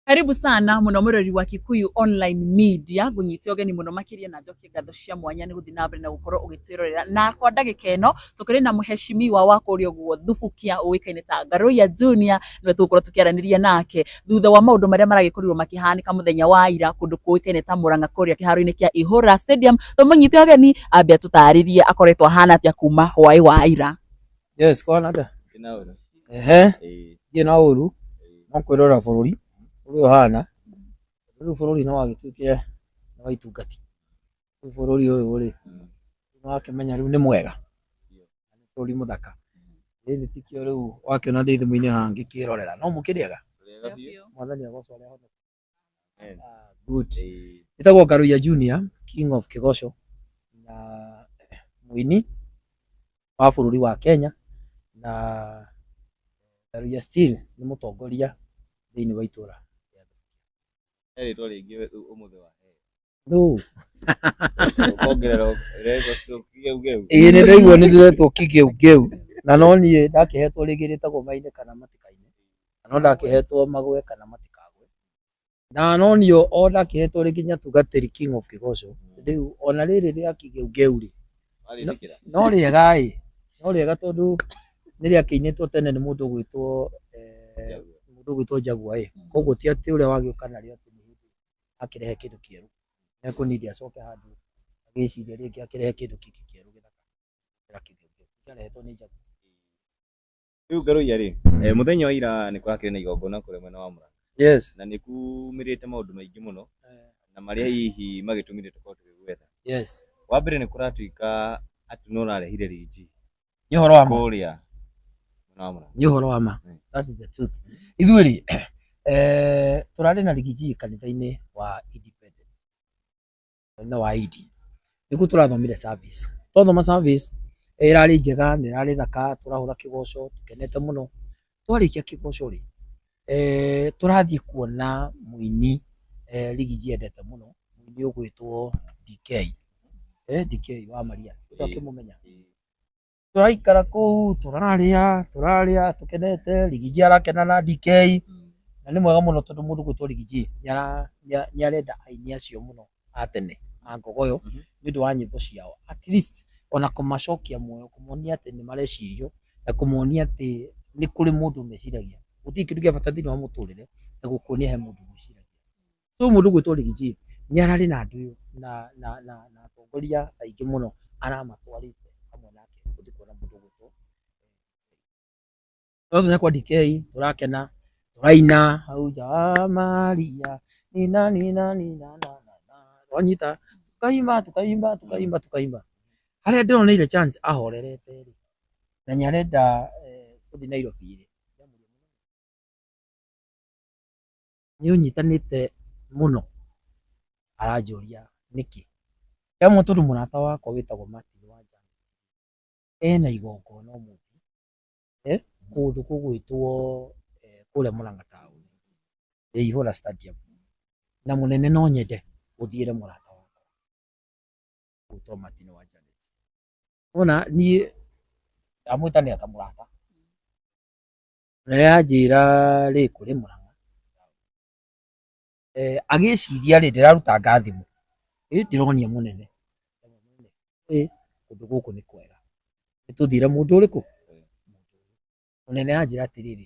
Karibu sana muno murori wa Kikuyu Online Media ngunyite ogeni muno makiria na njokie ngatho cia mwanya ni guthi na mbere na gukorwo ugitwirorera na kwa ndagika ino tukiri na muheshimiwa wa kuria guo thubukia uwikaine ta Ngaruya Junior niwe tugukorwo tukiaraniria nake thutha wa maundu maria maragikorirwo makihanika muthenya wa ira kundu kuwikaine ta Murang'a kuria kiharo-ini kia Ihura Stadium tumunyite ogeni ambe atutaririe akoretwo ahana atia kuma hwai wa ira Yes, kwana atä? Ehe, ndirĩ na ũru no kwĩrora bũrũri ũrĩa ũhana. Rĩu bũrũri nĩ wagĩtuĩkire nĩ wa itungati. Rĩu bũrũri ũyũ rĩ, nĩ wakĩmenya rĩu nĩ mwega, nĩ bũrũri mũthaka. Ĩndĩ ti kĩo rĩu wakĩona ndĩ thimũ-inĩ haha ngĩkĩĩrorera. No mũkĩrĩega? Mwathani agocwo arĩ ho. Amen. Ah, good Eh, ĩtagwo ngaruya junior king of kigoco na mũini wa bũrũri wa kenya na ngaruya still nĩ mũtongoria thĩinĩ wa itũra rĩtwa rĩngĩ ũmũthĩ wa Thũ. Ũkongerera ũrega stroke geu geu. Ĩĩ nĩ ndaigua nĩ ndĩretwo kĩgeugeu na no niĩ ndakĩhetwo rĩngĩ rĩtagwo maine kana matikaine na no ndakĩhetwo magwe kana matikagwe na no niĩ o ndakĩhetwo rĩngĩ nyatugatĩri king of kĩgoco rĩu ona rĩrĩ rĩa kĩgeugeu rĩ Warĩtĩkĩra. no rĩega ĩ no rĩega tondũ nĩ rĩakĩinĩtwo tene nĩ mũndũ ũgwĩtwo eh, mũndũ ũgwĩtwo njagua ĩ koguo ti atĩ ũrĩa wagĩũka narĩo atĩ nĩ hĩndĩ akĩrehe kĩndũ kĩerũ nĩ ekũnindi acoke handũ agĩciria rĩngĩ akĩrehe kĩndũ kĩngĩ kĩerũ gĩthaka gũkĩra kĩu kĩngĩ kĩarehetwo nĩ njagu rĩu ngarũiya rĩ eh, mũthenya wa ira nĩ kũrakĩrĩ na igongona kũrĩa mwena wa mũranga yes na nĩ kumĩrĩte maũndũ maingĩ mũno eh, na marĩa hihi magĩtũmire tũkorwo tũgĩgwetha yes wa mbere nĩ kũratuĩka atĩ no ũrarehire riji nĩ ũhoro wa ma kũrĩa Mũramũra. nĩ ũhoro wa ma Mm. That is the truth. ithuĩ rĩ eh, tũrarĩ na rigiji kanitha-inĩ wa independent kanitha wa idi nĩkuo tũrathomire service twathoma service eh, ĩrarĩ njega na ĩrarĩ thaka tũrahũra kĩgoco tũkenete mũno twarĩkia kĩgoco rĩ, eh, tũrathiĩ kuona mũini eh, rigi njendete mũno mũini ũgwĩtwo DK eh, DK wa Maria Ĩĩ. akĩmũmenya Ĩĩ. tũraikara kũu tũrarĩa tũrarĩa tũkenete rigiji arakena na DK na nĩ mwega mũno tondũ mũndũ gwĩtwo rigiji nĩ ara- nĩ a- nĩ arenda aini acio mũno a tene a ngogoyo Mhm. nĩ ũndũ wa nyĩmbo ciao at least ona kũmacokia muoyo kũmonia atĩ nĩ marecirio na kũmonia atĩ nĩ kũrĩ mũndũ meciragia gũtirĩ kĩndũ gĩa bata thĩinĩ wa mũtũrĩre ta gũkuonia he mũndũ mwĩciragia so mũndũ gwĩtwo Rigiji nĩ ararĩ na andũ na na na na atongoria aingĩ mũno aramatwarĩte hamwe nake gũthiĩ kuona mũndũ gwĩtwo Tũrathiĩ na kwa DK, tũrakena, tũraina hau nja wa Maria. Nina, nina, nina, na, na, na. Twanyita, tũkaimba, tũkaimba, tũkaimba, tũkaimba. Harĩa ndĩroneire chance ahorerete rĩ, na nĩ arenda eh, gũthiĩ Nairobi rĩ, nĩ ũnyitanĩte mũno aranjũria nĩkĩ he mũtũrũ mũrata wakwa wĩtagwo Martin Wanjala ena igongona ũmũthĩ eh, kũndũ kũgwĩtwo eh, kũrĩa mũranga taũni ya ihũra stadium na mũnene no nyende ũthiĩre mũrata wakwa gwĩtwo martin wa janet ona niĩ ndamwĩta nĩ ata mũrata na rĩrĩa anjĩra rĩ kũrĩ mũranga Eh, agĩciria rĩ ndĩraruta ngathimũ ĩ ndĩronia mũnene ĩ kũndũ gũkũ nĩ kwega nĩtũthire mũndũ ũrĩkũ mũnene anjĩra atĩrĩrĩ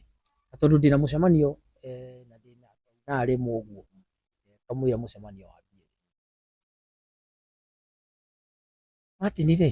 "Na tondũ ndĩna mũcemanio eh, na ndĩna ithaa rĩmwe ũguo eh, kamũira mũcemanio wambie Martin rĩ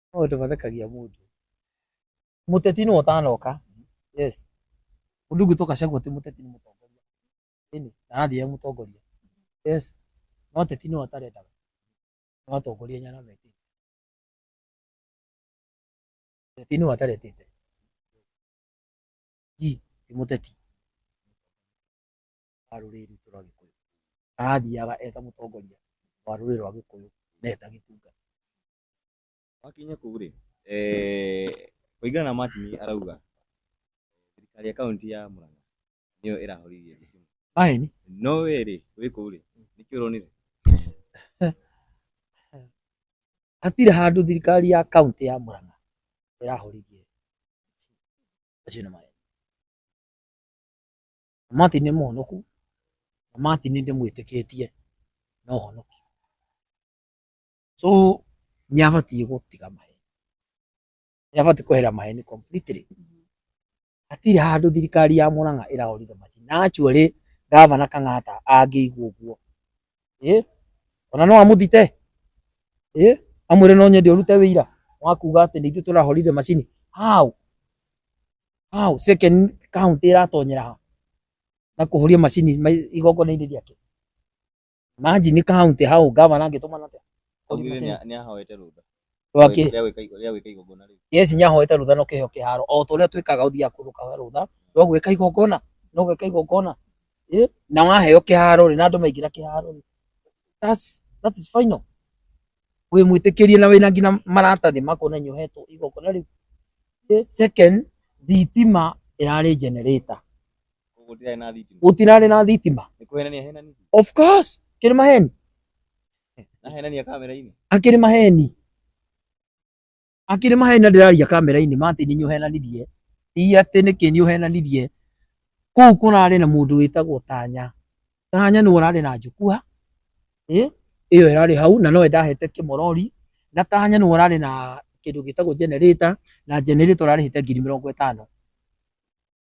maũndũ mathekagia mũndũ mũteti nĩ ũtanoka yes ũndũ ũngĩ toka ciaguo atĩ mũteti nĩ mũtongoria ĩni na arathiĩ e mũtongoria yes no teti nĩ atarenda no atongoria nyana meti teti nĩ ataretete ji ti mũteti wa rũrĩrĩ rwitũ rwa gĩkũyũ arathiaga eta mũtongoria wa rũrĩrĩ rwa gĩkũyũ na eta gĩtunga Wakinya kũu rĩ, eh, kũringana na Martin arauga thirikari ya kaunti ya Murang'a nĩyo ĩrahoririe thitima. Aini. No we rĩ, wĩ kũu rĩ, nĩkĩ ũronire? Hatirĩ handũ thirikari ya kaunti ya Murang'a ĩrahoririe acio nĩ maĩ. Martin nĩ mũhonoku na Martin ndĩmwĩtĩkĩtie na ũhonoki. so nĩ abatiĩ gũtiga maheni nĩ abatiĩ kwehera maheni completely hatirĩ handũ thirikari ya Murang'a ĩrahũrire macini na actually gavana Kang'ata angĩigua ũguo ĩ ona no amũthite ĩ amwĩre no nyende ũrute wĩira wa kuga atĩ nĩ ithuĩ tũrahũrire macini how how second county ĩratonyera ha na kũhũria macini ma- igongona-inĩ rĩake Maji ni county hau governor angĩtũma na atĩa? Augire nĩ nĩ ahoete rũtha. Twaki. Rĩa gwĩka igo- rĩa gwĩka igongona rĩu. Yes nĩ ahoete rũtha no kĩheo kĩharo o ta ũrĩa twĩkaga ũthiaga kũndũ kahoya rũtha no gwĩka igongona no gwĩka igongona Ĩ, na waheo kĩharo rĩ na andũ maingĩra kĩharo rĩ that's that is final wĩ mwĩtĩkĩrie na wĩna nginya maratathi makuonania ũhetwo igongona rĩu Ĩ, second thitima ĩrarĩ generator Gũtirarĩ na thitima. gũtirarĩ na thitima Nĩ kũhenania henani. of course kĩrĩ maheni Na henania kamera-inĩ. akĩrĩ maheni akĩrĩ maheni na ndĩraria kamera-inĩ ma atĩ nĩ ũhenanirie ti atĩ nĩkĩ nĩ ũhenanirie kũu kũrarĩ na mũndũ wĩtagwo tanya tanya nĩ ũrarĩ na njũkua ĩ, ĩyo ĩrarĩ hau na nowe ndahete kĩmorori na tanya nĩ ũrarĩ na kĩndũ gĩtagwo generator na generator ũrarĩhĩte ngiri mĩrongo ĩtano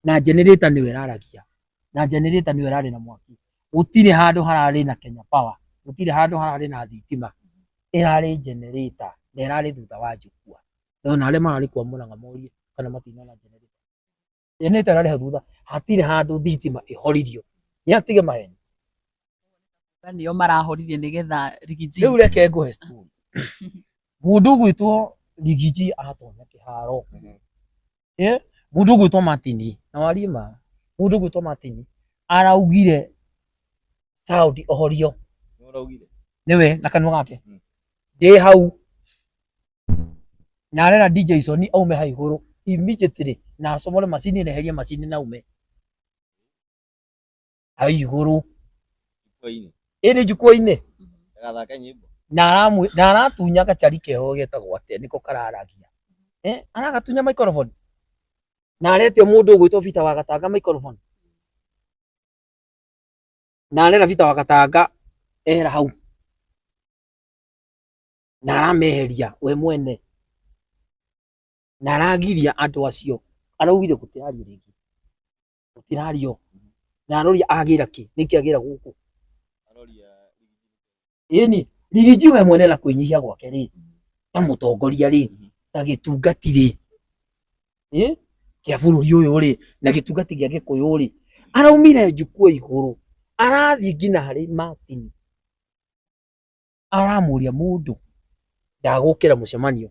na generator niwe raragia na generator niwe rari na mwaki gutire handu harari na Kenya Power gutire handu harari na thitima irari generator na irari thutha wa njukua ndona aria marari kwa muranga morie kana matinona generator generator irari thutha hatire handu thitima ihoririo ni atige maheni nio marahoririe nigetha rigiji riu reke nguhe story mundu gwitwo rigiji atonyeke haro eh mũndũ ũgwĩtwo Martini na warie ma mũndũ ũgwĩtwo Martini araugire Saudi ohorio Nĩ ũraugire? nĩwe na kanua gake Mm. ndĩ hau na arera DJ Sony aume ha igũrũ immediately na acomore macini na eherie macini na ume hau igũrũ Ikoini. ĩndĩ njukwa-inĩ Agathake nyimbo. na aramwĩ- na aratunya gacari keho getagwo atĩa nĩko kararagia Eh, aragatunya microphone na aretia mũndũ ũgwĩtwo bita wa gatanga microphone na arera bita wa gatanga ehera hau na arameheria we mwene na aragiria andũ acio araugire gũtĩario rĩngĩ ũtirario na aroria agĩra kĩ nĩkĩ agĩra gũkũ aroria ĩni rigiji we mwene na kwĩnyihia gwake rĩ ta mũtongoria rĩ ta gĩtungati rĩ ĩ kĩa bũrũri ũyũ rĩ na gĩtungati gĩa gĩkũyũ rĩ araumire njukua igũrũ arathiĩ nginya harĩ Martin aramũria mũndũ ndagũkĩra mũcemanio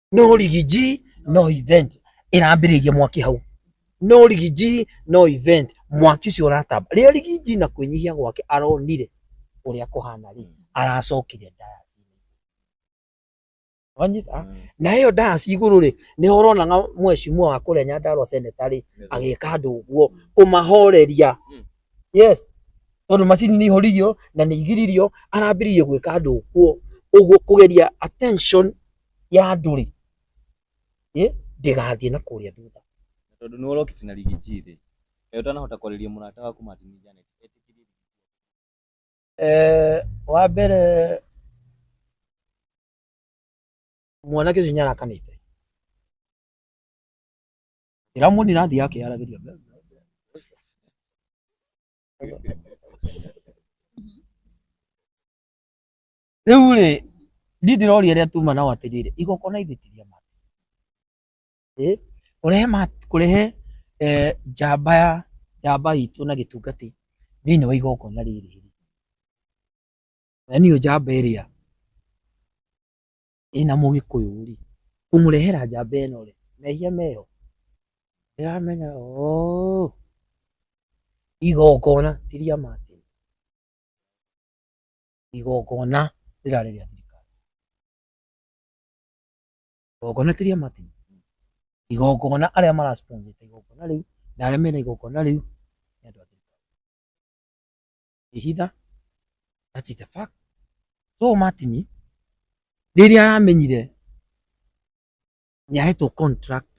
no rigiji no event ĩrambĩrĩria mwaki hau no rigiji no event mwaki ũcio ũratamba rĩrĩa rigiji na kwĩnyihia gwake aronire ũrĩa kũhana rĩ aracokire ndayasi wanyita Mm. na ĩyo ndayasi igũrũ rĩ nĩho ũrona nga mwecimua wa kũrĩa nyandarwa seneta rĩ agĩka andũ ũguo kũmahoreria Mm. yes tondũ macini nĩ ihoririo na nĩ igiririo arambĩrĩirie gwĩka andũ ũguo ũguo kũgeria attention ya andũ rĩ ĩ ndĩgathiĩ na kũrĩa thutha Na tondũ nĩ ũrokĩte na rigiji thĩ kaĩ ũtanahota kwarĩria mũrata waku Martin Janet etĩkĩrie Eh, wa mbere mwanake ũcio nĩarakanĩte ndĩramwoni rathiĩ akĩaragĩria Rĩu rĩ, niĩ ndĩroria arĩa tuma nao atĩrĩrĩ, igongona ithuĩ ti rĩa ma ĩ kũrehe ma kũrehe eh, njamba ya njamba itũ na gĩtungati thĩinĩ wa igongona rĩrĩ rĩ, na niyo njamba ĩrĩa ĩna mũgĩkũyũ rĩ, kũmũrehera njamba ĩno rĩ, mehia meho ndĩramenya oo igongona ti rĩa ma igongona rĩrarĩ rĩa thirikari igongona ti rĩa Martin igongona arĩa mara sponsor igongona rĩu na arĩa mena igongona rĩu nĩ andũ a thirikari ihitha that's it a fact so Martin rĩrĩa aramenyire nĩ ahetwo contract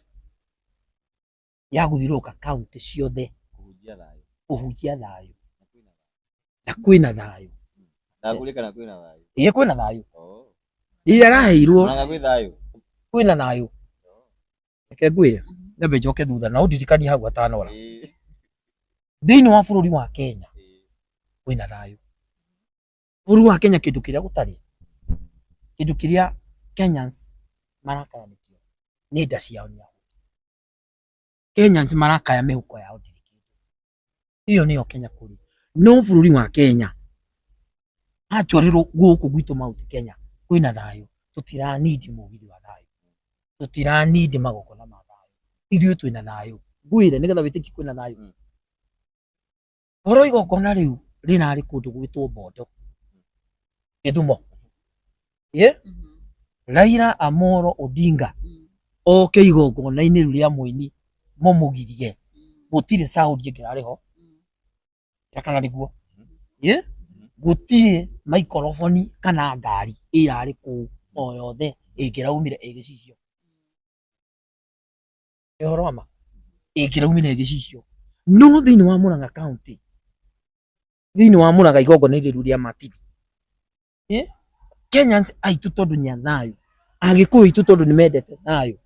ya gũthiũrũrũka kaunti ciothe kũhunjia thayũ kũhunjia thayũ na kwĩna thayũ ndagũrĩka na kwĩna thayũ ĩĩ kwĩna thayũ oh rĩrĩa araheirwo naga gwĩ thayũ kwĩna thayũ reke ngwĩre nyambe njoke thutha na ũndirikanie hau atanora Ĩĩ, thĩinĩ wa bũrũri wa kenya ĩĩ. kwĩna thayũ bũrũri wa kenya kĩndũ kĩrĩa gũtarĩ kĩndũ kĩrĩa kenyans marakayanĩkio nĩ nda ciao nĩ ahu Kenyans marakaya mĩhuko yao iyo niyo Kenya kuri no bururi wa Kenya atwarirwo guku gwitu mauti Kenya kwina thayo tutira need mugiri wa thayo tutira need magokona ma thayo ithuĩ twina thayo ngwire nigetha witiki kwina thayo mm. Korwo igongona rĩu rĩrarĩ kũndũ gwĩtwo Bondo, Gĩthumo, ye Raila Amolo Odinga oke igongona-inĩ rĩu rĩa mũini mũmũgirie, gũtirĩ sound ĩngĩrarĩ ho, na kana nĩguo, ye gũtirĩ maikoroboni kana ngari ĩrarĩ kũu o yothe ĩngĩraumire ĩ gĩcicio. Nĩ ũhoro wa ma. Ĩĩ kĩraumire gĩcicio. No thĩinĩ wa Murang'a County, thĩinĩ wa Murang'a igongona rĩu rĩa matiri. Kenyans aitũ tondũ nĩ a thayũ, Agĩkũyũ aitũ tondũ nĩ mendete thayũ,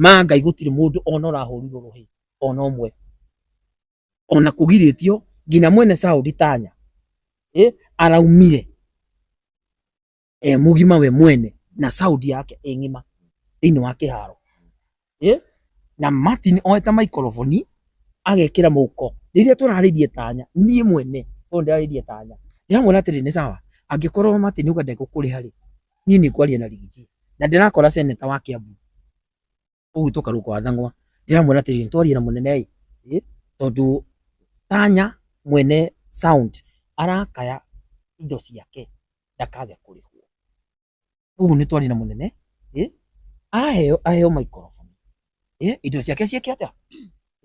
ma Ngai gũtirĩ mũndũ ona ũrahũrirwo rũhĩ ona ũmwe. Ona kũgirĩtio nginya mwene Saudi Tanya araumire. e mugima we mwene na sound yake ĩ ng'ima thĩinĩ wa kĩharo Eh? na Martin oete maikoroboni agekĩra mũhuko rĩrĩa tũrarĩrie tanya niĩ mwene tondũ ndĩrarĩrie tanya ndĩramwĩra atĩrĩ nĩ sawa angĩkorwo Martin uga ndegũkũrĩha rĩ niĩ nĩ ngwaria na rigiji na ndĩrakora seneta wa Kiambu ũgwitwo karũ kwa thang'wa ndĩramwĩra atĩrĩ twarie na mũnene ĩ tondũ tanya mwene sound arakaya indo ciake ndakage kũrĩhwo ũguo nĩ twarie na mũnene ĩ aheo aheo microphone ĩ indo ciake ciĩke atĩa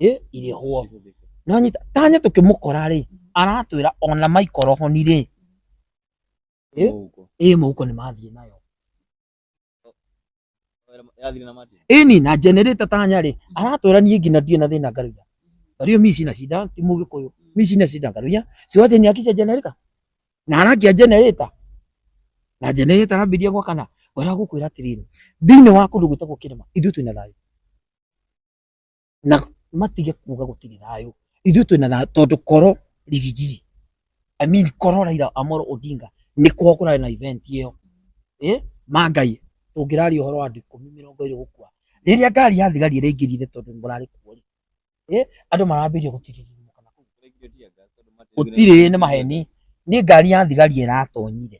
ĩ irĩhwo nonyita tanya tũkĩmũkora rĩ aratwĩra ona microphone rĩ ĩ ĩ mũhuko nĩ mathiĩ nayo Yathire na mati. ini na generator tanya rĩ aratwĩra niĩ nginya ndirĩ na thĩna ngaruya tariũ mi sina shida ti mũgĩkũyũ mi sina shida ngaruya siwache niakishe generator na arakia generator na generator arambirie gwakana ngwĩra gũkwĩra atĩrĩrĩ thĩinĩ wa kũndũ gwĩtagwo kĩrĩma ithuĩ twĩna thayũ na matige kuga gũtirĩ thayũ ithuĩ twĩna thayũ tondũ koro rigiji I mean koro Raila Amolo Odinga nĩ kuo kũrarĩ na event ĩyo eh mangai tũngĩraria ũhoro wa andũ ikũmi mĩrongo ĩrĩ gũkua rĩrĩa ngari ya thigari ĩraingĩrire tondũ mũrarĩ kuo rĩ eh andũ marambĩrĩria gũtiririmuka kana gũtirĩ nĩ maheni nĩ ngari ya thigari ĩratonyire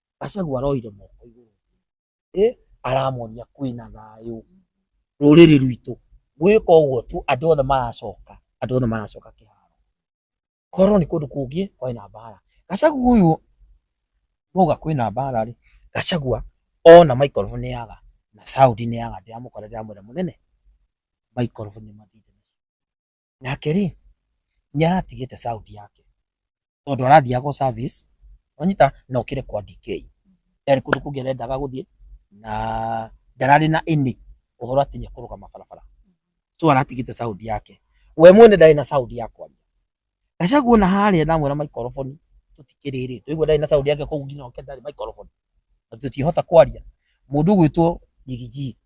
Gachagua aroire moko igũrũ eh, aramonia kwĩna thayũ rũrĩrĩ rwitũ gwĩka ũguo tu andũ othe maracoka andũ othe maracoka kĩharo korwo nĩ kũndũ kũngĩ kwarĩ na mbara Gachagua ũyũ mauga kwĩna mbara rĩ Gachagua ona microphone yaga na sound nĩ yaga ndĩramũkora ndĩramwĩra mũnene microphone nĩ mathire Nake rĩ, nĩ aratigĩte Saudi yake tondũ arathiaga gũ service wanyita na ũkĩre kwa DK. Ndarĩ kũndũ kũngĩ arendaga gũthiĩ na ndararĩ na ini ũhoro atĩ nĩ ekũrũgama barabara. So aratigĩte Saudi yake. We mwene ndarĩ na Saudi ya kwaria. Gachagua ona harĩa na amwĩra maikoroboni tũtikĩrĩ rĩ, tũigua ndarĩ na Saudi yake kũu nginya oke ndarĩ maikoroboni. Na tũtiĩhota kwaria. Mũndũ ũgwĩtwo Rigiji.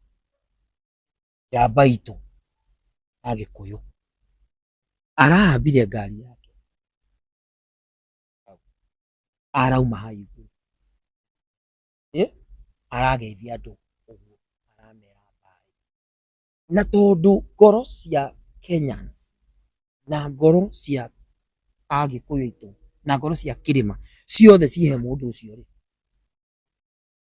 ya baitũ ya gĩkũyũ arahambire ngari yake arauma ha igũrũ arageithia andũ ũguo aramera mbaĩ na tondũ ngoro cia Kenyans na ngoro cia agĩkũyũ aitũ na ngoro cia kĩrĩma ciothe cihe mũndũ ũcio rĩ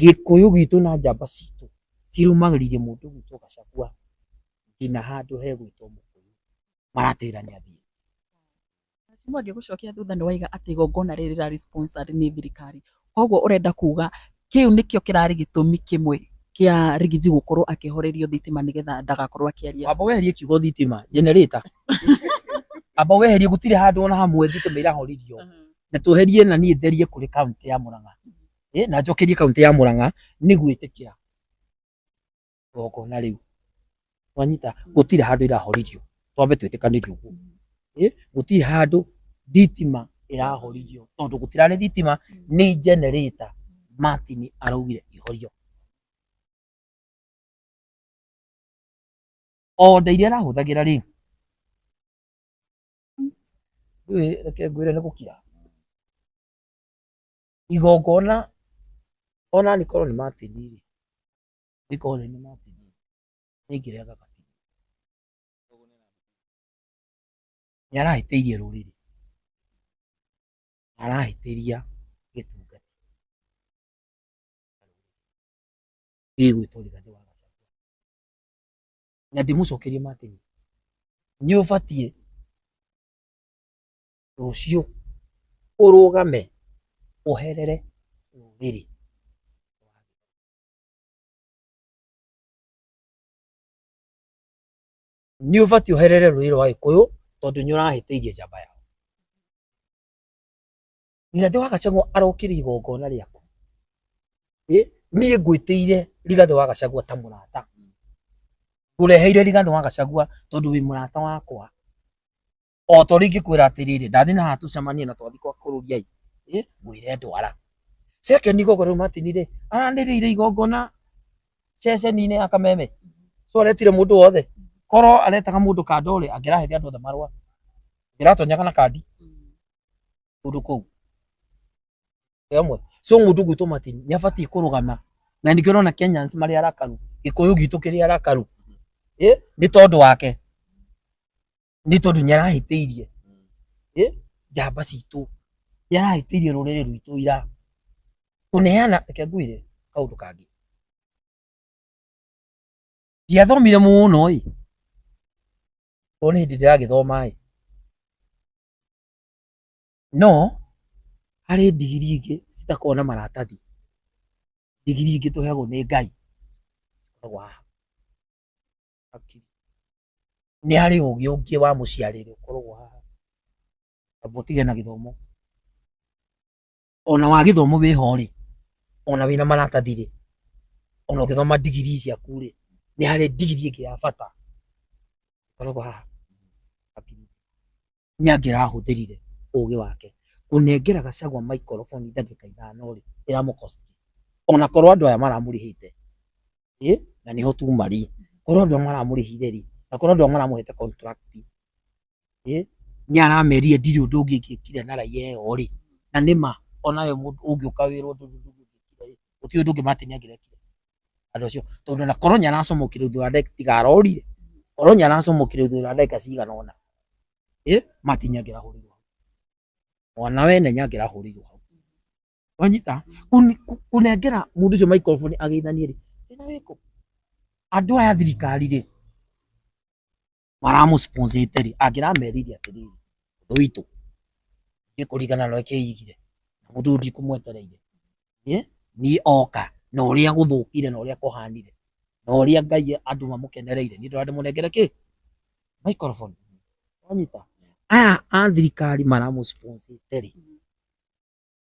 Gĩkũyũ gitũ na njamba citũ cirũmagĩrĩire mũndũ ũgwĩtwo Gachagua nginya handũ hegwĩtwo Mũkũyũ maratĩra nĩ athiĩ. Mheshimiwa ngĩgũcokia thutha nĩ waiga atĩ igongona rĩrĩ rĩrarĩ sponsored nĩ thirikari. Koguo ũrenda kuga kĩu nĩkĩo kĩrarĩ gĩtũmi kĩmwe kĩa Rigiji gũkorwo akĩhorerio thitima nĩgetha ndagakorwo akĩaria. Wamba weherie kiugo thitima, generator. Amba weherie gũtirĩ handũ ona hamwe thitima irahoririo. Na tweherie na niĩ therie kũrĩ kaũntĩ ya Mũrang'a. eh, na njokerie kaunti ya Murang'a nĩ gwĩtĩkĩra igongona rĩu wanyita gũtirĩ handũ irahoririo twambe twĩtĩkanĩrie ũguo eh, gũtirĩ handũ thitima ĩrahoririo tondũ gũtirarĩ thitima nĩ generator Martin araugire ihorio oda iria arahũthagĩra rĩ ndũĩ reke ngwĩre nĩ gũkira igongona ona angĩkorwo nĩ matĩni rĩ, angĩkorwo nĩ nĩ matĩni rĩ, nĩ ngĩrĩa gaka kĩndũ. Nĩ arahĩtĩirie rũrĩrĩ, arahĩtĩria gĩtungati gĩgwĩtwo Rigathĩ wa Gachagua. Na ndĩmũcokerie matĩni, nĩ ũbatiĩ rũciũ ũrũgame ũherere rũrĩrĩ. Nĩ ũbatiĩ ũherere rũrĩrĩ rwa Gĩkũyũ tondũ nĩ ũrahĩtĩirie njamba yao. Rigathĩ wa Gachagua arokire igongona rĩaku, niĩ ngwĩtĩire Rigathĩ wa Gachagua ta mũrata, ngũreheire Rigathĩ wa Gachagua tondũ wĩ mũrata wakwa. o ta ũrĩa ingĩkwĩra atĩrĩrĩ ndathiĩ na haha tũcemanie na twathiĩ kwa kũrũriai ĩ ngwĩre ndwara second igogo rĩu Martin rĩ aranĩrĩire igongona ceceni-inĩ ya kameme so aretire mũndũ wothe korwo aretaga mũndũ kanda ũrĩ angĩraheire andũ othe marũa ndĩratonyaga na kandi kũndũ kũu ĩmwe so mũndũ gwitũ Martin nĩ abatiĩ kũrũgama na nĩkĩo ũrona Kenyans marĩ arakaru gĩkũyũ gitũ kĩrĩ arakaru ĩ nĩ tondũ wake nĩ tondũ nĩ arahĩtĩirie Eh, njamba citũ nĩ arahĩtĩirie rũrĩrĩ rwitũ ira kũneana reke ngwĩre kaũndũ kangĩ ndiathomire mũno ĩ tondũ nĩ hĩndĩ ndĩragĩthoma ĩ no harĩ ndigiri ingĩ citakoragwo na maratathi ndigiri ingĩ tũheagwo nĩ ngai Koragwo haha. hakiri. Nĩ harĩ ũgĩ ũngĩ wa mũciarĩre ũkoragwo haha, kaba ũtige na gĩthomo. Ona wa gĩthomo wĩho rĩ, ona wĩna maratathi rĩ, ona ũgĩthoma ndigiri ciaku rĩ, nĩ harĩ ndigiri ĩngĩ ya bata ĩkoragwo haha hakiri. nĩ angĩrahũthĩrire ũgĩ wake kũnengera Gachagua microphone ndagĩka ithano rĩ ĩramũkosti ona korwo andũ aya maramũrĩhĩte ĩ na nĩho tu marĩ korwo andũ aya maramũrĩhire rĩ na korwo andũ aya maramũhete contract ĩ nĩ aramerire ndirĩ ũndũ ũngĩ ingĩkire na raiya ĩyo rĩ na nĩma ona we mũndũ ũngĩũka wĩrwo ũndũ ũngĩ ndũngĩkire rĩ gũtirĩ ũndũ ũngĩ Martin angĩrekire andũ acio tondũ na koro nyanacomokire thutha wa ndagĩka tigarorire koro nyanacomokire thutha wa ndagĩka cigana ũna ĩ mati nyangĩrahũrirwo hau mwana wene nyangĩrahũrirwo hau wanyita Kũni- kũ- kũnengera mũndũ ũcio maikoroboni agĩithanie rĩ ĩna wĩkũ andũ aya thirikari rĩ maramũsponsiteri angĩra merithia atĩrĩrĩ ũndũ witũ nĩ kũringana na ũrĩa kĩigire na mũndũ ũyũ ndikũmwetereire Ĩ, niĩ oka na ũrĩa gũthũkire na ũrĩa kũhanire na ũrĩa ngai andũ mamũkenereire nĩ ndora ndĩmũnengere kĩ microphone wanyita aya a thirikari maramũsponsiteri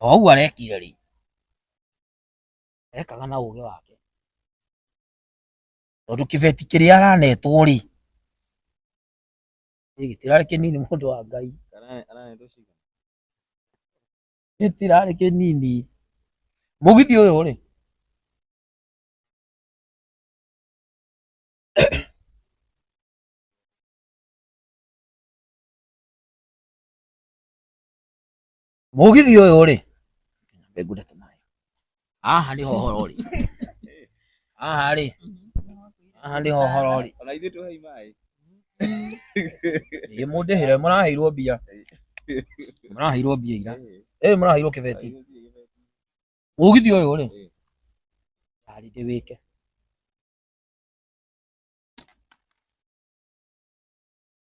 O ũguo arekire rĩ, ekaga na ũgĩ wake, tondũ kĩbeti kĩrĩa aranetwo rĩ, gĩtirarĩ kĩnini mũndũ wa Ngai, gĩtirarĩ kĩnini. Mũgithi ũyũ rĩ, Mũgithi ũyũ rĩ, mbengunda ta nayo. Haha nĩ hohoro rĩ. Haha rĩ. Haha nĩ hohoro rĩ. Ona ithuĩ tũhei maĩ. Ĩ mũndĩhĩre mũraheirwo mbia. Mũraheirwo mbia ira. Ĩ mũraheirwo kĩbeti. Mũgithi ũyũ rĩ. Arĩ ndĩwĩke.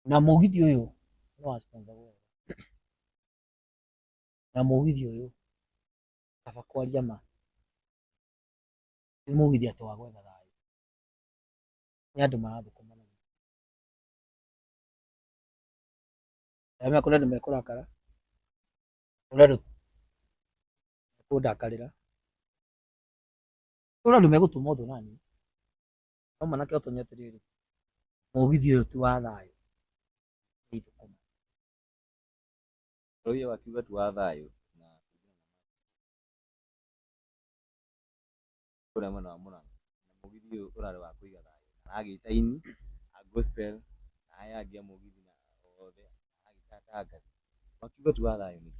Na mũgithi ũyũ nĩ wa sponsor na mũgithi ũyũ kaba kwaria ma nĩ mũgithi atĩ wa gwetha thayũ nĩ andũ marathũkũma na gĩko arĩa mekũrĩ andũ mekũrakara kũrĩ andũ mekũndakarĩra kũrĩ andũ megũtuma ũndũ naniĩ no manake ũtonye atĩrĩrĩ mũgithi ũyũ ti wa thayũ nĩ ithũkũma Rauya wakiuga tu wa thayũ na kũrĩa mwena wa Mũrang'a na mũgithi ũyũ ũrarĩ wa kũiga thayũ aragĩta ini a gospel na aya angĩ a mũgithi na othe agĩtangatha wakiuga tu wa thayũ nĩ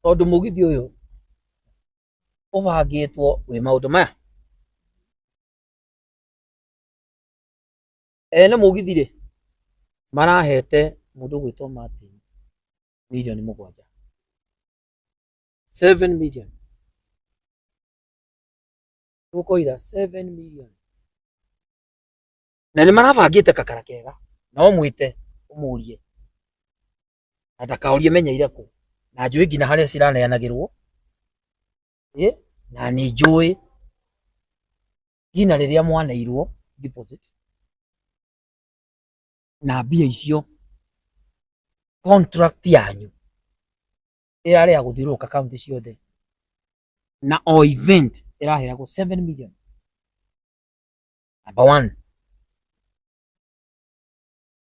tondũ mũgithi ũyũ ũbangĩtwo wĩ maũndũ maya Ene mũgithi rĩ marahete mũndũ gwĩtwo Martin milioni mũgwanja 7 million tũkoira 7 million na nĩ marabangĩte kakara kega na ũmwĩte ũmũrie na ndakaũrie menyeire kũ na njũĩ nginya harĩa ciraneanagĩrwo ĩ na nĩ njũĩ nginya rĩrĩa mwaneirwo deposit na mbia icio contract yanyu ĩrarĩa gũthiũrũrũka kaunti ciothe na o event ĩraheagwo 7 million number one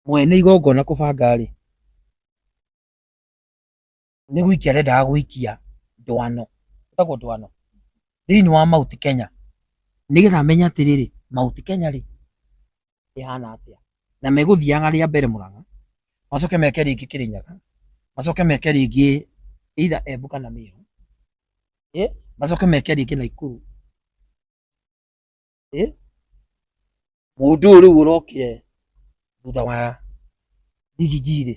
mwene igongona kũbanga rĩ nĩ gũikia arendaga gũikia ndwano ĩtagwo ndwano thĩinĩ wa Mount Kenya nĩgetha amenye atĩrĩrĩ Mount Kenya rĩ ĩhana atĩa na megũthiaga rĩa mbere Mũrang'a macoke meke rĩngĩ Kĩrĩnyaga macoke meke rĩngĩ either Embu kana Meru ĩ macoke meke rĩngĩ Naikuru ĩ mũndũ ũyũ rĩu ũrokire thutha wa Big G rĩ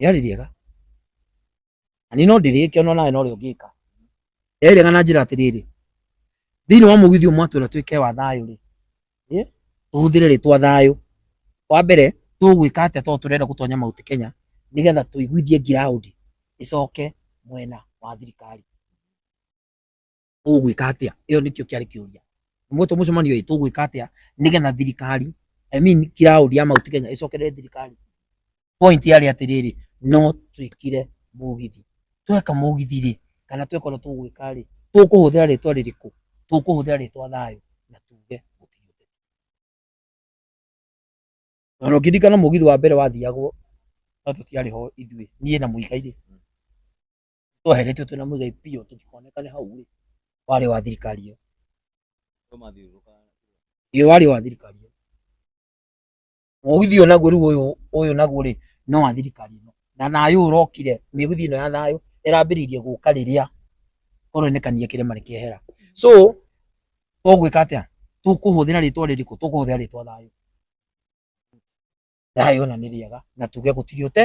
rĩarĩ rĩega na niĩ no ndĩrĩke ona nawe no rĩo ngĩka rĩarĩ rĩega na njĩra atĩrĩrĩ thĩinĩ wa mũgithi ũmwe atwĩra twĩke wa thayũ rĩ ĩ, tũhũthĩre rĩtwa thayũ wa mbere tũgwĩka atĩa tondũ tũrenda gũtonya mauti kenya nĩgetha tũiguithie ngiraũndi ĩcoke mwena wa thirikari ũgwĩka atĩa ĩyo nĩkĩo kĩarĩ kĩũria mwetwo mũcemanio ĩ tũgwĩka atĩa nĩgetha thirikari I mean kiraũri ya Mount Kenya ĩcokerere thirikari point yarĩ atĩrĩrĩ no twĩkire mũgithi tweka mũgithi rĩ kana tweka ũrĩa tũgwĩka rĩ tũkũhũthĩra rĩtwa rĩrĩkũ tũkũhũthĩra rĩtwa thayũ na tuge gũtirĩ ũteti na na ũkĩririkana mũgithi wa mbere wathiagwo no tũtiarĩ ho ithuĩ niĩ na mũigai rĩ tweheretio twĩna mũigai biũ tũtikoneka nĩ hau rĩ warĩ wa thirikari ĩyo ĩyo warĩ wa thirikari ĩyo mũgithi ũyũ naguo rĩu ũyũ ũyũ naguo rĩ no wa thirikari ĩno na thayũ ũrokire mĩgithi ĩno ya thayũ ĩrambĩrĩirie gũka rĩrĩa koronekania kĩrĩma nĩ kĩehera so tũgwĩka atĩa tũkũhũthĩra rĩtwa rĩrĩkũ tũkũhũthĩra rĩtwa thayũ thayũ na nĩ rĩega na tuge gũtirĩ ũte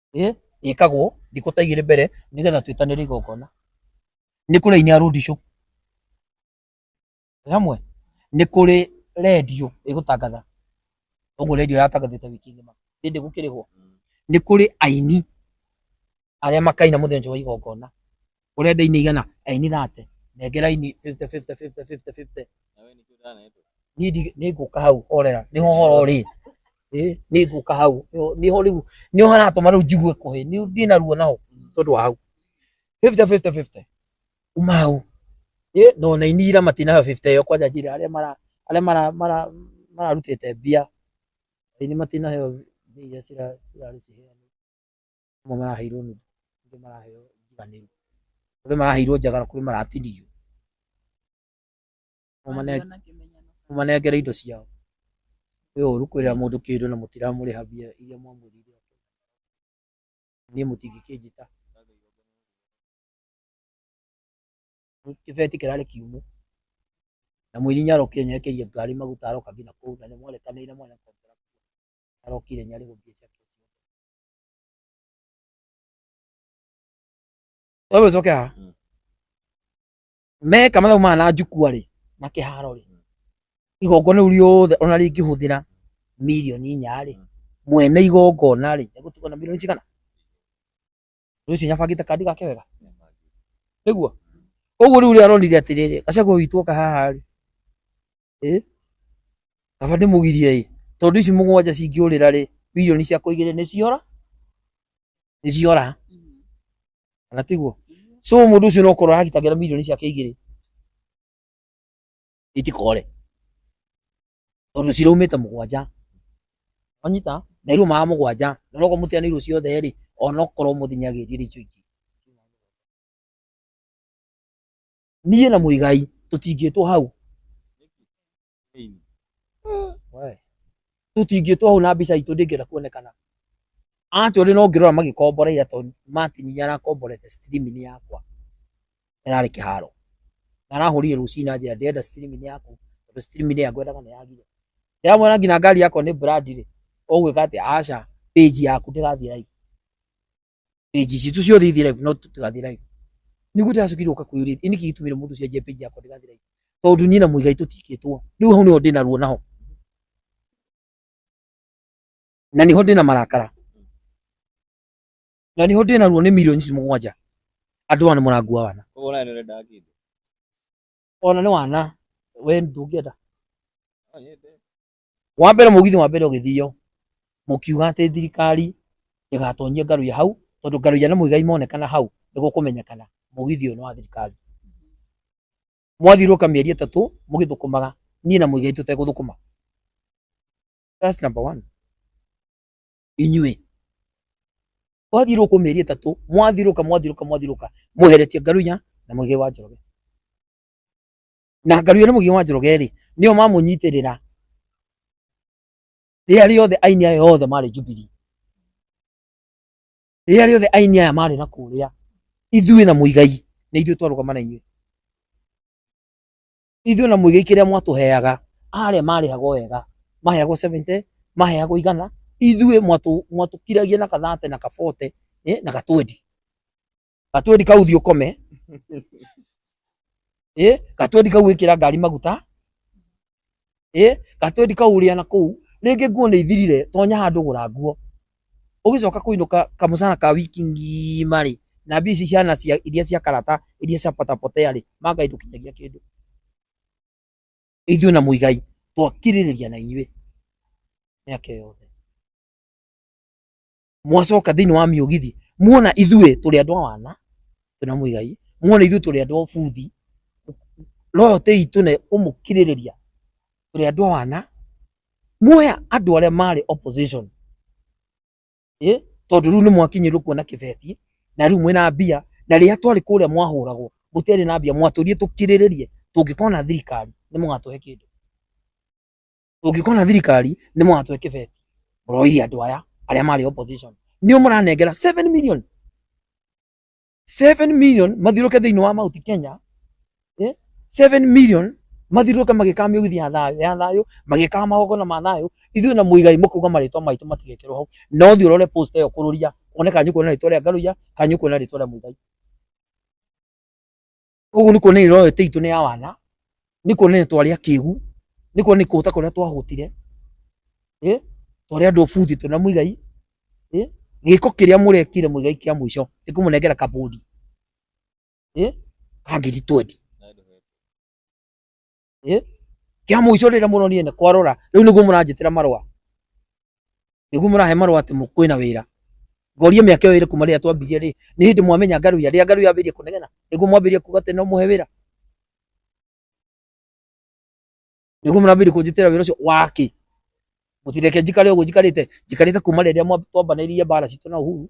Eh? ĩkagwo thikũ ta igĩrĩ mbere nĩgetha twĩtanĩre igongona nĩ kũrĩ aini a rũndicũ Nĩ hamwe nĩ kũrĩ redio ĩgũtangatha ũguo redio yatangathĩte wiki ng'ima hĩndĩ gũkĩrĩhwo nĩ kũrĩ aini arĩa makaina mũthenya ũcio wa igongona Ũrenda ini igana? Eh, ini thate. Nengera ini 50 50 50 50 50. Na wewe nĩkĩo ũtanetwo. Niĩ ndi- nĩ ngũka hau orera. Nĩ ho horo rĩ. Eh, nĩ ngũka hau. Nĩ- Nĩ ho rĩu. Nĩ ho haratũma rĩu njigue kũhĩ. Nĩ ndĩ na ruo naho tondũ wa hau. 50 50 50. Uma hau. Eh, no na ini ira matinayo 50 ĩyo kwanja njĩra arĩa mara arĩa mara mara mararutĩte mbia. Ini matinayo mbia iria cira- cirarĩ ciheanĩtwo. amwe maraheirwo nuthu angĩ maraheo njiganĩru kũrĩ maraheirwo njagara kũrĩ maratinio mũmanengere indo ciao kwĩ ũru kwĩrĩra mũndũ kĩndũ na mũtiramũrĩha mbia iria mwamwĩrire niĩ mũtingĩkĩnjĩta kĩbeti kĩrarĩ kiumũ na mũini nyarokia nyekeria ngari maguta aroka nginya kũu na nĩ mwarekanĩire mwene arokire nyarĩ gũthiĩ wewe coke haha Mm. meka mathabu maya na njukua rĩ na kĩharo rĩ igongona rĩu rĩothe ona rĩngĩhũthĩra mirioni inya rĩ Mm. mwene igongona rĩ egũtigwo na mirioni cigana ũndũ ũcio nyabangĩte kandi gake wega nĩguo ũguo rĩu rĩaronire atĩrĩrĩ gacagua witũ oka haha rĩ Ĩ, kaba ndĩmũgirie ĩ, tondũ ici mũgwanja cingĩũrĩra rĩ, mirioni ciakwa igĩrĩ nĩ ciora, nĩ ciora, kana tiguo? So mũndũ ũcio no kũrora aragitagĩra mirioni ciake igĩrĩ itikore, tondũ ciraumĩte mũgwanja, wanyita? na iraumaga mũgwanja, na onokorwo mũtiganĩirwo ciothe rĩ, onokorwo mũthenya agĩthiĩ rĩ, icio ingĩ. niĩ na mũigai tũtingĩtwo hau tũtingĩtwo hau na mbica itũ ndĩngĩenda kuonekana ati uri no ngirora magikomboreira to Martin ni arakomborete stream ni yakwa irarĩ kĩharo na arahũrire rũcinĩ na njĩra ndĩrenda stream ni yaku tondũ stream ni yangwendaga nĩ yagire ndĩramwĩra nginya ngari yakwa nĩ brand rĩ ũgwĩka atĩ aca page yaku ndĩrathiĩ live page citũ ciothe ithi live no tũtigathi live nĩ guo ndĩracokire gũka kwĩyũria ĩ nĩkĩ gĩtũmire mũndũ ũcio anjie page yakwa ndĩgathi live tondũ niĩ na mũigai tũtikĩtwo rĩu hau nĩho ndĩna ruo naho na niho ndĩna marakara na niho ndĩna ruo nĩ milioni ici mũgwanja andũ aya nĩ mũrangua wana Koguo nawe nĩũrendaga kĩndũ. ona nĩ wana we ndũngĩenda No, nyende. wa mbere mũgithi wa mbere ũgĩthio mũkiuga atĩ thirikari ĩgatonyia ngaruya hau tondũ ngaruya na mũigai monekana hau nĩguo kũmenyekana mũgithi ũyũ nĩ wa thirikari mwathiũrũka mĩeri ĩtatũ mũgĩthũkũmaga niĩ na mũigai tũtegũthũkũma That's number one inyuĩ mwathiũrũkwo mĩeri ĩtatũ mwathiũrũka mwathiũrũka mwathiũrũka mweheretie ngaruya na mũigai wa njoroge na ngaruya nĩ mũgiĩ wa njoroge rĩ nĩo mamũnyitĩrĩra rĩrĩa rĩothe aini aya othe marĩ Jubilee rĩrĩa rĩothe aini aya marĩ na kũrĩa ithuĩ na mũigai nĩ ithuĩ twarũgama na inyuĩ ithuĩ na mũigai kĩrĩa mwatũheaga arĩa marĩhagwo wega maheagwo 70 maheagwo igana ithuĩ mwatũkiragia na kathate na kabote eh, na gatwendi Katwendi kau thiĩ ũkome. Ĩ, katwendi kau ĩkĩra ngari maguta. Ĩ, katwendi kau ũrĩa na kũu. Rĩngĩ nguo nĩ ithirire, tonya handũ gũra nguo. Ũgĩcoka kũinũka kamũcara ka wiki ng'ima rĩ, na mbia ici ciana cia iria cia karata, iria cia potapotea rĩ, ma Ngai ndũkinyagia kĩndũ. Ithuĩ na Muigai twakirĩrĩria na inyuĩ mĩaka ĩyo yothe. mwacoka thĩinĩ wa mĩũgithi muona ithuĩ tũrĩ andũ a wana twĩna mũigai muona ithuĩ tũrĩ andũ a buthi royo tĩ itũ na kũmũkirĩrĩria tũrĩ andũ a wana muoya andũ arĩa marĩ opposition eh, tondũ rĩu nĩ mwakinyĩrwo kuona kĩbeti na rĩu mwĩna mbia na rĩrĩa twarĩ kũrĩa mwahũragwo gũtiarĩ na mbia mwatũrie tũkirĩrĩrie tũngĩkona thirikari nĩ mũgatũhe kĩndũ Ũngĩkorwo na thirikari nĩ mwatwe kĩbeti mũroire andũ aya arĩa marĩ opposition nĩo mũranengera 7 million 7 million mathiũrũke thĩinĩ wa mauti Kenya eh? 7 million mathiũrũke magĩkaga mĩgithi ya thayũ ya thayũ magĩkaga magongona ma thayũ ithuĩ na mũigai mũkauga marĩtwa maitũ matigekĩrwo hau na ũthiĩ ũrore post ĩyo kũrũria one kanyũ kuona rĩtwa rĩa ngarũia kanyũ kuona rĩtwa rĩa mũigai Koguo nĩ kuonania roho ĩtĩ itũ nĩ ya wana, nĩ kuonania twarĩ akĩgu, nĩ kuonania kũhũta kũrĩa twahũtire, eh, twarĩ andũ buthi twĩna Muigai, eh, gĩko kĩrĩa mũrekire Muigai kĩa mũico nĩ kũmũnengera kabondi, eh, ka ngiri twendi. Eh? Kia muico rira muronire ne kwarora. Riu niguo muranjitira marwa. Niguo murahe marwa ati mukwina wira. Ngorie miaka iyo iri kuma riria twambirie ri. Ni hindi mwamenya ngaru ya riria ngaru yambirie kunegena. Niguo mwambirie kuga ati no muhe wira. Niguo murambiri kunjitira wira ucio waki. Mutireke njikare uguo njikarite. Njikarite kuma riria twambanirie bara citu na Uhuru.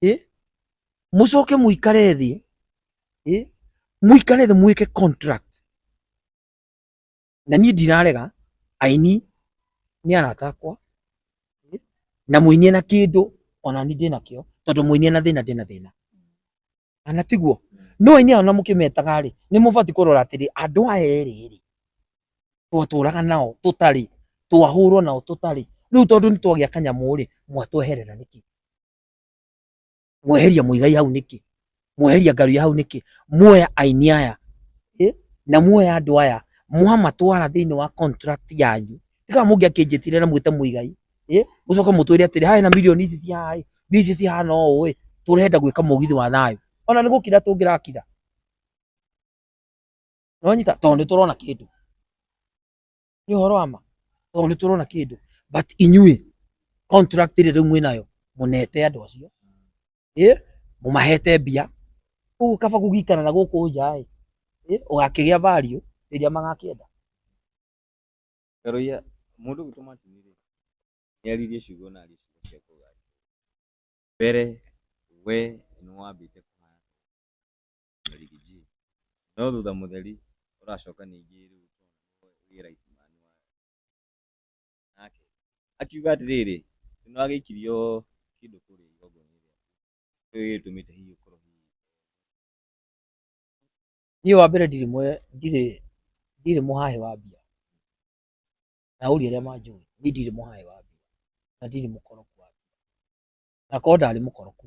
eh mucoke muikare thi eh muikare thi mwike contract na niĩ ndirarega aini ni arata akwa eh? na muinie na kindu ona ni ndina kio tondu muinie na thina ndina thina ana tiguo no aini ana mukimetaga ri ni mubati kurora atiri andu aya eri ri twatũraga nao tũtarĩ twahũrwo nao tũtarĩ rĩu tondũ nĩ twagĩa kanyamũ rĩ mwatweherera nĩkĩ mweheria muigai hau niki mweheria ngaruya hau niki muoya aini aya eh, na muoya andu aya mwamatwara thiini wa contract yanyu tika mungi akinjitire na mwite muigai eh, mucoka mutwire atiri haya na milioni ici cia hai ici cihana uu eh, turenda gwika mugithi wa thayu ona ni gukira tungirakira nonyita tondu ni turona kindu nĩ ũhoro wa ma tondũ nĩ tũrona kĩndũ but inyuĩ contract ĩrĩa rĩu mwĩnayo mũnete andũ acio ĩ mũmahete mbia ũguo kaba kũgikana na gũkũ nja ĩ ĩ, ũgakĩgĩa value rĩrĩa magakĩenda Karoia, mũndũ gwitũ Martin rĩ, nĩ aririe ciugo na aririe ciugo cia kũgaya. Mbere, we nĩ wambĩte kũhaya. na Ligi G. No thutha mũtheri ũracoka ningĩ rĩu wĩ right man wa nake akiuga atĩrĩrĩ nĩ wagĩikirio kĩndũ kũrĩa igongona-inĩ rĩaku nĩkĩo gĩgĩtũmĩte hihi ũkorwo hihi niĩ wa mbere ndirĩ mwe ndirĩ ndirĩ mũhahe wa mbia na ũria arĩa manjũĩ niĩ ndirĩ mũhahe wa mbia na ndirĩ mũkoroku wa mbia na korwo ndarĩ mũkoroku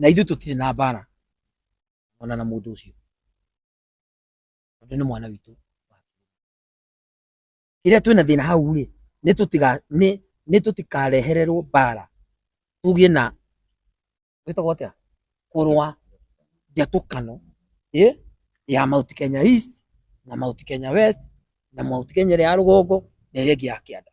na ithuĩ tũtirĩ na mbara ona na mũndũ ũcio tondũ nĩ mwana witũ kĩrĩa twĩna thĩna hau rĩ nĩ tũtiga nĩ nĩ tũtikarehererwo mbara tũgĩe na gwĩtagwo atĩa kũrũa njatũkano ĩ ya Mount Kenya East na Mount Kenya West na Mount Kenya ĩrĩa ya rũgongo na ĩrĩa ĩngĩ ya kĩanda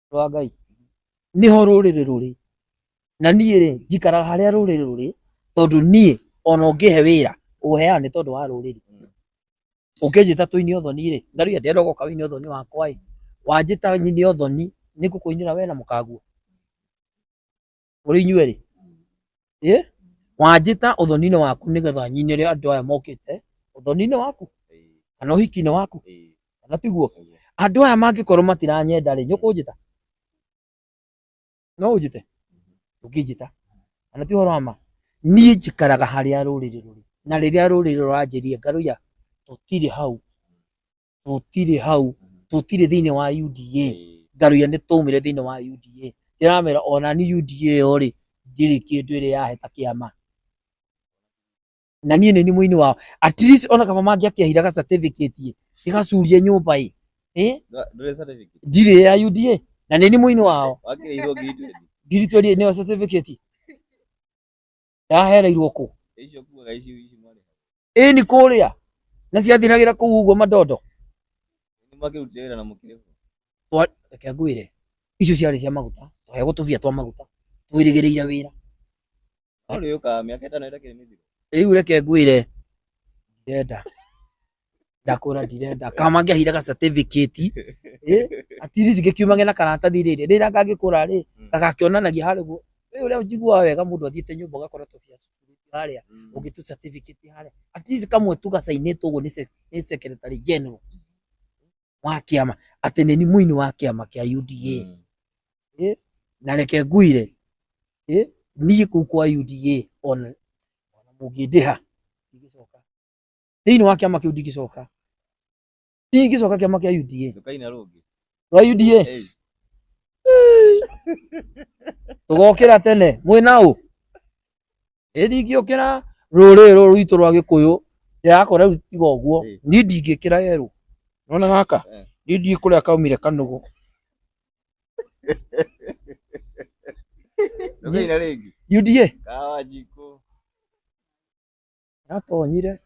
rwa ngai niho rũrĩrĩ rũrĩ na niĩ rĩ njikaraga harĩa rũrĩrĩ rũrĩ tondũ niĩ ona ũngĩhe wĩra ũheaga nĩ tondũ wa rũrĩrĩ ũkĩnjĩta tũine ũthoni rĩ ngarĩa ndĩrenda ũgoka wĩine ũthoni wakwa ĩ wanjĩta nyine ũthoni nĩ ngũkũinĩra wee na mũkaguo Kũrĩ inyuĩ rĩ, ĩ wanjĩta ũthoni-inĩ waku nĩgetha nyinĩre andũ aya mokĩte ũthoni-inĩ waku kana ũhiki-inĩ waku kana tiguo? Andũ aya mangĩkorwo matiranyenda rĩ, nĩ ũkũnjĩta? No ũnjĩte? Ndũngĩnjĩta. Kana ti ũhoro wa ma? Niĩ njikaraga harĩa rũrĩrĩ rũrĩ na rĩrĩa rũrĩrĩ rũranjĩria ngarũiya tũtirĩ hau. tũtirĩ hau tũtirĩ thĩinĩ wa UDA ngaruya nĩ twaumire thĩinĩ wa UDA ndĩramera ona ni UDA ĩyo rĩ ndirĩ kĩndũ ĩrĩ yaheta kĩama na niĩ nĩ ni mũini wao at least ona kaba mangĩakĩahira ga certificate ĩ gĩgacurie nyũmba ĩ ĩ ndũrĩ certificate ndirĩ ya UDA na nĩ ni mũini wao wakĩrĩirwo ngiri twendi ngiri twendi nĩyo certificate yahereirwo kũ Icio kuaga icio ici mwarĩ. ĩni kũrĩa na ciathiragĩra kũu ũguo mandondo Nĩ makĩrutire wĩra na mũkĩrĩhwo. Twa- reke ngwĩre icio ciarĩ cia maguta twahegwo tũbia twa maguta twĩrĩgĩrĩire wĩra No rĩũkaga mĩaka ĩtano ĩtakĩrĩ mĩthiru. rĩu reke ngwĩre ndenda ndakura ndirenda kamangĩahire ga certificate eh, at least gĩkiumage na karatathi rĩrĩ rĩrĩa ngangĩkũra rĩ Mm. gagakĩonanagia harĩ guo rĩu ũrĩa njiguaga wega mũndũ athiĩte nyũmba ũgakora tũbia tũtũrĩtio harĩa Mm. ũngĩ tũ certificate harĩa at least kamwe tu gacainĩtwo ũguo nĩ se- nĩ secretary general wa kĩama atĩ nĩ ni mũini wa kĩama kĩa UDA Mm. na reke nguire eh, niĩ kũu kwa UDA ona ona mũngĩndĩha ndigĩcoka thĩinĩ wa kĩama kĩu ndingĩcoka ndingĩcoka kĩama kĩa UDA Ndukaine rũngĩ. rwa UDA Hey. tũgokĩra tene mwĩ na ũ ĩ ndingĩũkĩra rũrĩrĩ rũrũ rwitũ rwa gĩkũyũ ndĩrakora rĩu tiga ũguo Ĩĩ. niĩ ndingĩkĩra yerũ nona gaka Eh. niĩ ndiĩ kũrĩa kaumire kanũgũ Ndukaine rĩngĩ. UDA Kawa jiko. yatonyire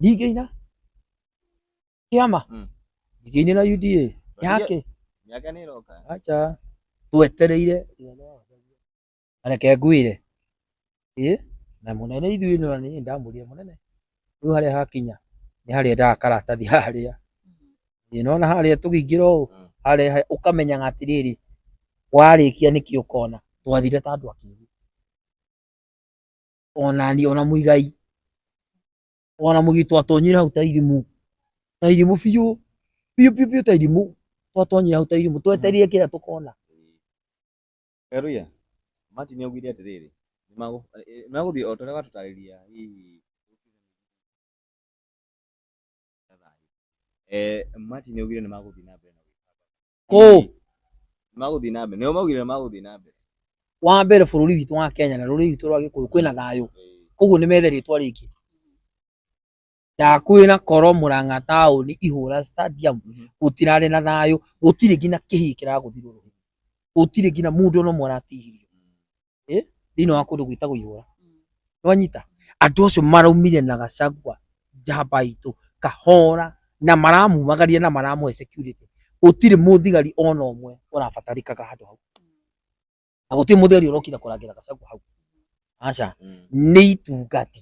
rigeina kiama mm. rigeine na UDA yake yake ni roka acha twetereire areke ngwire ii na munene ithuĩ nĩ nĩ ndamũria munene rĩu harĩa hakinya nĩ harĩa ndaga karatathi harĩa ĩ mm. nona harĩa tũgĩingĩra ũũ mm. harĩa ũkamenyaga atĩrĩrĩ warĩkia nĩkĩ ũkona twathire ta andũ akĩrĩ onani ona muigai ona mugitwa tonyira hau ta irimu ta irimu biũ biũ biũ biũ ta irimu twatonyira hau ta irimu tweterie kĩrĩa tũkona Karuya, Martin augire atĩrĩrĩ, "Nĩmagũ- eh, nĩmagũthiĩ o ta ũrĩa watũtarĩria hihi Eh, Martin augire nĩmagũthiĩ na mbere na gwĩka kũ magũthiĩ na mbere nĩo maugire magũthiĩ na mbere wa mbere bũrũri witũ wa Kenya na rũrĩrĩ witũ rwa Gĩkũyũ kwĩna thayũ koguo nĩ methe rĩtwa rĩngĩ ya kwĩna koro mũrang'a taũni ihũra stadium mhm. gũtirarĩ na thayũ gũtirĩ nginya kĩhii kĩragũthirwo gũtirĩ nginya mũndũ no mũratihirio Eh? thĩinĩ wa kũndũ gwĩtagwo ihũra nĩwanyita andũ acio maraumire na gacagua njamba itũ kahora na maramumagaria na maramũhe security gũtirĩ mũthigari ona ũmwe ũrabatarĩkaga handũ hau na gũtirĩ mũthigari ũrokire kũrangĩra gacagua hau aca nĩ itungati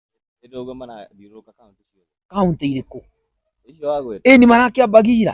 Hĩndĩ ũguo marathiũrũrũka kaunti ciothe. Kauntĩ irĩkũ? Icio wagweta. Ĩni marakĩambagira.